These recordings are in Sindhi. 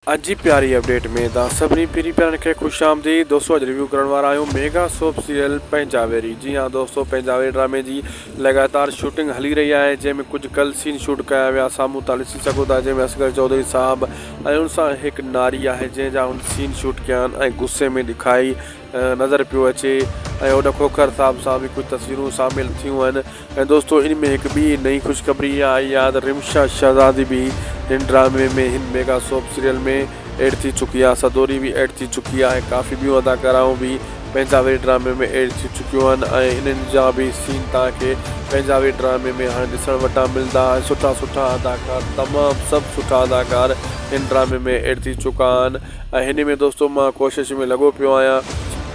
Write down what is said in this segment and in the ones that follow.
اڄ جي پياري اپڊيٽ ۾ توهان سڀني پيري پيارن کي خوش آمديد دوستو اڄ ريويو ڪرڻ وارا آهيون ميگا سوپ سيريل پنهنجاويري جي ها دوستو پنهنجاويري ڊرامي جي لڳاتار شوٽنگ هلي رهي آهي جنهن ۾ ڪجهه ڪل سين شوٽ ڪيا ويا سامهون توهان ڏسي سگهو ٿا جنهن ۾ اصغر چوڌري صاحب ۽ ان سان هڪ ناري آهي جنهن جا هن سين شوٽ ڪيا آهن ۽ غصي ۾ ڏکائي نظر پيو اچي ۽ هن کوکر صاحب سان به ڪجهه تصويرون شامل ٿيون آهن ۽ دوستو ان ۾ هڪ ٻي نئين خوشخبري اها آئي آهي ته رمشا شهزادي به هن ڊرامي ۾ هن ميگا سوپ سيريل ۾ ايڊ ٿي چڪي آهي سدوري به ايڊ ٿي چڪي آهي ڪافي ٻيون اداڪارائون به پنجابي ڊرامي ۾ ايڊ ٿي چڪيون آهن ۽ انهن جا به سين توهان کي پنجابي ڊرامي ۾ هاڻي ڏسڻ وٽان ملندا ۽ سٺا سٺا اداڪار تمام سڀ سٺا اداڪار هن ڊرامي ۾ ايڊ ٿي چڪا آهن. ۽ هن ۾ دوستو مان ڪوشش ۾ لڳو پيو آهيان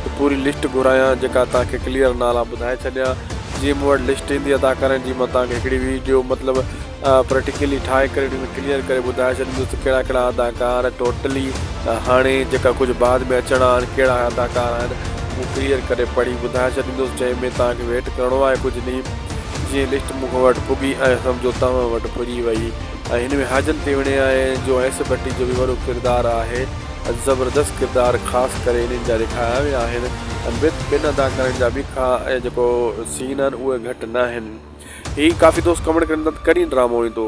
ته پوري لسٽ گهرايان جيڪا توهان کي ڪليئر نالا ٻڌائي ڇڏيان جيئن مون وٽ لسٽ ايندي ادا ڪرڻ جي مان توهان کي هڪڙي ويڊيو مطلب پريٽيڪلي ٺاهي ڪري ان ۾ ڪليئر ڪري ٻڌائي ڇڏيندس ته ڪهڙا ڪهڙا اداڪار ٽوٽلي هاڻي جيڪا ڪجهه بعد ۾ اچڻا آهن ڪهڙا اداڪار آهن هو ڪليئر ڪري پڙهي ٻڌائي ڇڏيندس جنهن ۾ توهان کي ويٽ ڪرڻو آهي ڪجهه ڏينهن جيئن لسٽ مون وٽ پڳي ۽ سمجهو توهان وٽ پڄي وئي. ۽ هن ۾ حاجن تي وڻي آهي جو ايس ڀٽي جو به وڏو ڪردار آهي ۽ زبردست ڪردار خاص ڪري انهن جا ڏيکايا ويا آهن ۽ بت ٻن اداڪارن جا به ڪا ۽ جيڪو سين آهن اهي گهٽ ناهن هي ڪافي دوست ڪمينٽ ڪرن ٿا ته ڪڏهن ڊرامو ايندو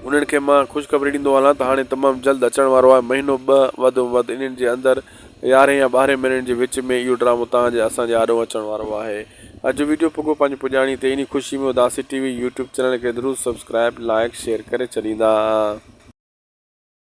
انهن کي مان خوشخبري ڏيندو هلان ته هاڻي تمام جلد اچڻ وارو آهي مهينو ٻه وڌ ۾ وڌ انهن جي اندر يارهين يا ٻارهين مهينن جي وچ ۾ اهو ڊرامو توهان جي اسان جي آڏو اچڻ وارو آهي اڄ جو ويڊيو پڳو پنهنجي پڄاڻي تي انهي خوشي ۾ اداسي ٽي وي يوٽيوب چينل کي ضرور سبسڪرائيب لائيڪ شيئر ڪري ڇڏيندا.